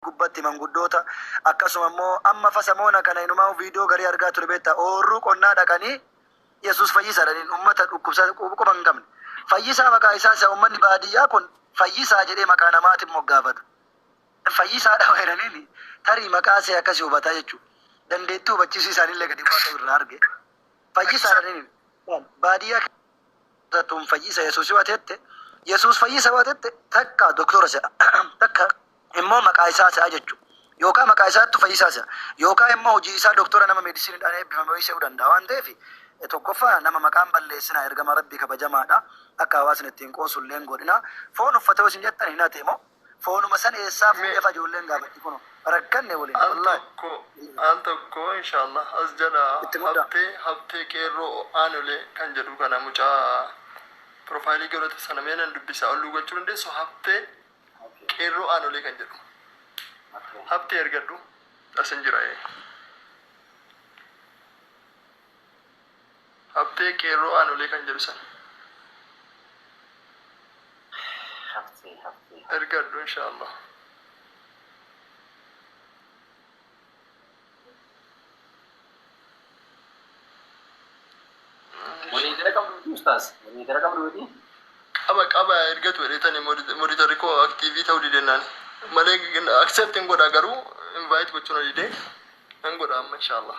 gubbatti manguddoota akkasuma immoo amma fa samoona kana inumaa video garii argaa ture beetta oorruu qonnaa dhaqanii yesus fayyisa dhaniin ummata dhukkubsa quba hin qabne fayyisaa maqaa isaa isa ummanni baadiyyaa kun fayyisaa jedhee maqaa namaatiin moggaafata fayyisaa dhawa jedhaniin tarii maqaa see akkasii hubataa jechuu dandeettii hubachiisii isaanillee gadi bu'aa ta'u irraa arge fayyisaa dhaniin baadiyyaa tun fayyisa Yesuus yoo atette, Yesuus fayyisa yoo atette takka doktora se'a, takka immoo maqaa isaa se'a jechu. Yookaa maqaa isaattu fayyisaa se'a. Yookaa immoo hojii isaa doktora nama medisinidhaan eebbifame wayii se'uu danda'a. Waan ta'eef tokkoffaa nama maqaa hin balleessinaa ergamaa Rabbii kabajamaadha. Akka hawaasni itti hin qoosullee hin godhinaa. Foon uffate yoo isin jettan hin hate moo? foonuma san eessaa fuudhee fa ijoolleen gaafatti kuno rakkanne wly Al wallahi tokko al tokko inshallah as jala itti mudda. habtee habtee qeerroo aanolee kan jedhu kana mucaa profile godhate sana mee nan dubbisa olluu gochuu dandeessu habtee qeerroo aanolee kan jedhu habtee ergadhu asin jira ee. Habtee qeerroo aanolee kan jedhu sana. Haftee haftee. ergadhu inshaallah. Walii gara qabdu miti ustaas. Walii gara qabdu miti. qaba qaba ergatu jedheetani monitorri koo aktiivii ta'uu didennaani malee accept hin godha garuu invite gochuu na dide nan godha amma inshaallah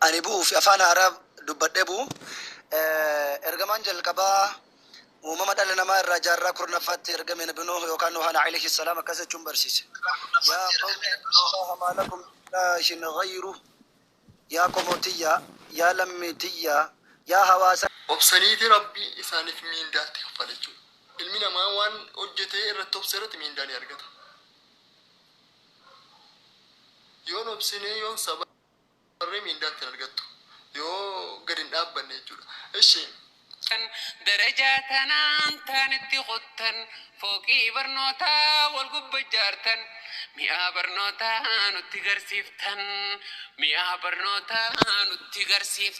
Ani bu'uu fi afaan haaraa dubbadhee bu'u. Ergamaan jalqabaa uumama dhala namaa irraa jaarraa kurnaffaatti ergame Nabi Nuuh yookaan Nuuhaan alayhi salaam akkas jechuun barsiise. Yaa qawmi ibudullaaha maa lakum min ilaahin ghayruh. Yaa qomoo tiyya, yaa lammii tiyya, yaa hawaasa. Obsaniiti Rabbi isaaniif mindaa itti kaffale jechuudha. Ilmi namaa waan hojjete irratti obse irratti mindaa ni argata. Yoon obsine, yoon sabare. Warri miindaa ittiin argattu yoo gad hin dhaabbanne jechuudha. Ishi. Darajaa tanaan taan itti qottan fooqii barnootaa wal gubba ijaartan mi'aa barnootaa nutti garsiiftan mi'aa barnootaa nutti garsiiftan.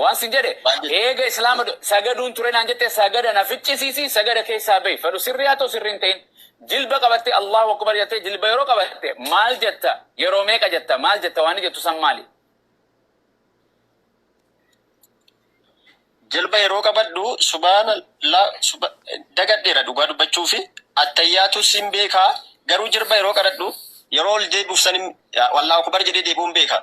Waan sin jedhe eega islaama sagaduun ture naan jette sagada na ficcisiisi sagada keessaa bahi fedhu sirrii haa ta'u sirrii hin ta'in jilba qabatte Allahu akbar jatte jilba yeroo qabatte maal jetta yeroo meeqa jetta maal jetta waan jettu san maali jilba yeroo qabadhu subaana la suba dagadheera dhugaa dubbachuu fi attayyaatu sin beekaa garuu jilba yeroo qadhadhu yeroo ol deebi'uuf san Allahu akbar jedhee deebi'uun beekaa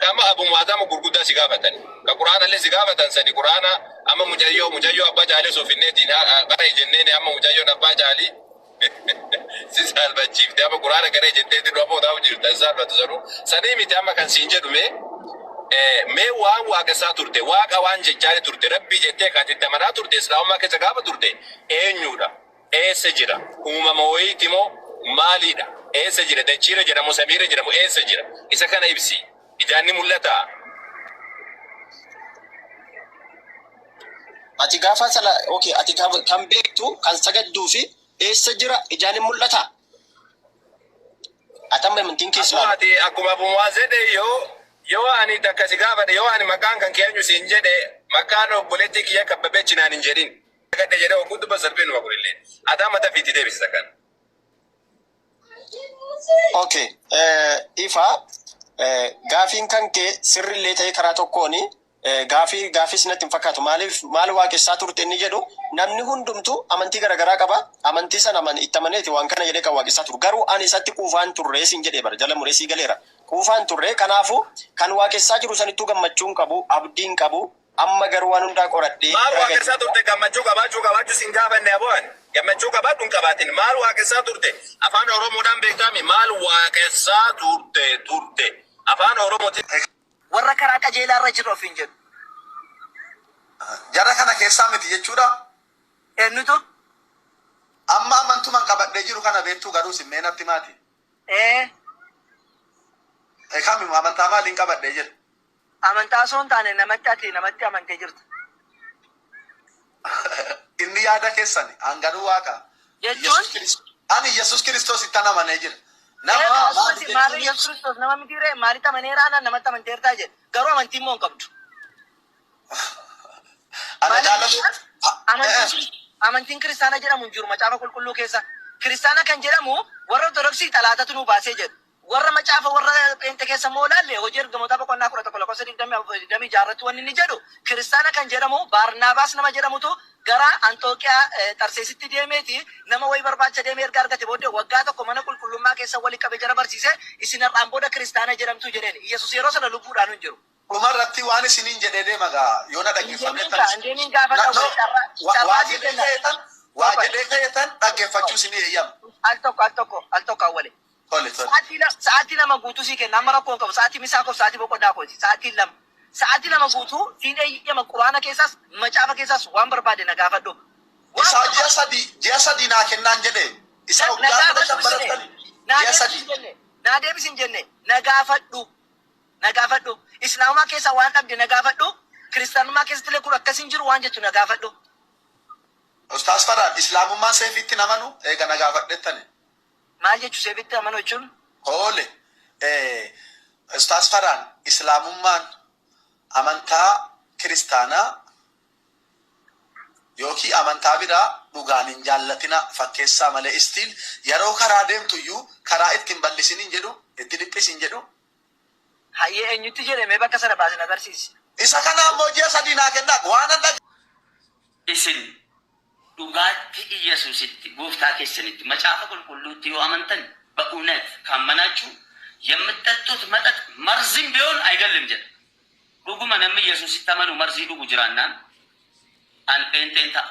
Dhama abu muatama gurguda si gafatani ka quranale si gafatan sadi qurana ama mucayo mucayo abba cali osoo finne diin ha qarayi jenneni ama mucayon abba cali si salbachifte ama qurana qarayi jetteti nu abo tau jirta hin salbatu sanu sani miti ama kan sin jedhu me me wan waqesa turte waqa wan jechani turte rabbi jette ka ati itti amana turte islamuma kessa gafa turte enyudha Eessa jira? Uumama woyiiti moo? Maalii dha? Eessa jira? Dachii irra jira moo samii irra jira moo eessa jira? Isa kana ibsi. Ijaan ni mul'ataa? Ati gaafa sala okay ati kan kan beektu kan sagadduu fi eessa jira ijaan hin mul'ata? Ati amma amantiin keessa Akkuma ati akkuma Abu Mu'aaz jedhe yoo yoo ani takka si gaafadhe yoo ani maqaan kan kee eenyu siin jedhe maqaan obboleettii kiyya kabbabechi naan hin jedhin. Argadhe jedhe hogguu dubbatu salphina numa kunillee. Adaa mata fi itti deebisisa kan. Ok ifa gaafiin kan kee sirri illee ta'ee karaa tokkoon gaafii gaafii sinatti hin fakkaatu maaliif maal waaqessaa turte inni jedhu namni hundumtu amantii garagaraa qaba amantii sana aman itti amaneeti waan kana jedhee kan waaqessaa turu garuu ani isatti quufaan turree siin jedhee bara jala muree sii galeera quufaan turree kanaafu kan waaqessaa jiru sanittuu gammachuun qabu abdiin qabu Amma garuu waan hundaa qoradhee Maal raga waaqessaa jiru. turte? Gammachuu qabaachuu qabaachuu sin gaafanne aboo ani. Gammachuu qabaadhu hin qabaatin. Maal waaqessaa turte? Afaan Oromoodhaan beektaa mii? Maal waaqessaa turte? Turte. Afaan Oromootiin hin. Warra karaa qajeelaa irra jirra ofiin jedhu. Jara kana keessaa miti jechuudha? Eennutu? Amma amantuman qabadhee jiru kana beektuu garuu isin mee natti himaati. Ee. Kami amantaa maaliin qabadhee jiru? Amantaa osoo hin taane namatti ati namatti amantee jirta. Inni yaada keessani hanganuu waaqa. Jechuun? Ani Iyyasuus Kiristoosittan amanee jira. Nama Eega maali akkuma isin maarree jechuun Iyyasuus Kiristoos nama mitii ree? Maalitti amaneera anaan namatti amanteertaa jedhe. Garuu amantii immoo hin qabdu. Ana Maaliif jaalatu. jennaan amantiin Kiri- amantiin kiristaana jedhamu hin jiru macaafa qulqulluu keessa. Kiristaana kan jedhamu warra Ortodoksii xalaatatu nuu baasee jedhu. Warra macaafa warra pheenxe keessa immoo ilaalle hojii ergamootaa boqonnaa 11 lakkoofsa 24 fi 26 irratti wanni inni jedhu kiristaana kan jedhamu Baarnaabaas nama jedhamutu gara Anxooqiyaa Xarseesitti deemeeti nama wayii barbaacha deeme erga argate booddee waggaa tokko mana qulqullummaa keessa wali qabe jara barsiise isin har'aan booda kiristaana jedhamtu jedheen Iyyasuus yeroo sana lubbuudhaanu hin jiru. Dhuma irratti waan isiniin jedhee deema gaa yoo na dhaggeeffanne tan isin waa jedhee ka'e tan waa jedhee ka'e tan dhaggeeffachuu isinii eeyyama. Al tokko al tokko al tokko awwale. Tole tole. Sa'aatii lama guutuu sii kenna amma rakkoo hin qabu sa'aatii misaa koof sa'aatii boqonnaa kooti sa'aatiin lama sa'aatii lama guutuu siin eeyyama quraana keessaas macaafa keessaas waan barbaade na gaafadhu isaa ji'a sadii ji'a sadii naa kennaan jedhe isaa waggaa kudha shan barattani ji'a sadii naa deebisin jenne na gaafadhu na gaafadhu. Islaamumaa keessaa waan dhabde na gaafadhu. Kiristaanummaa keessattillee kun akkas hin jiru waan jettu na gaafadhu. Ustaaz Farhaan, Islaamummaan seefiitti hin amanu? Eega na gaafadhettani. Maal jechu seefiitti amanuu jechuun? Hoole, Ustaaz Farhaan, Islaamummaan amantaa Kiristaanaa ykn amantaa biraa dhugaan hin jaallatinaa, fakkeessaa malee, still, yeroo karaa deemtuyyuu karaa itti hin bal'isiniin jedhu, itti dhiphisin jedhu, Hayyee eenyutti jedhe mee bakka sana baasi na garsiisi. Isa kana ammoo ji'a sadii naa kennaa waanan dhag. Isin dhugaatti Iyyasuusitti, Gooftaa keessanitti, Macaafa Qulqulluutti yoo amantan, Ba'uunat, kaammanaachu, yammitxaxxuut maxax marzim biyoon ayigallim jedha. Dhuguma nammi Iyyasuusitti amanu marzii dhugu jiraannaan, an pheenxeen ta'a.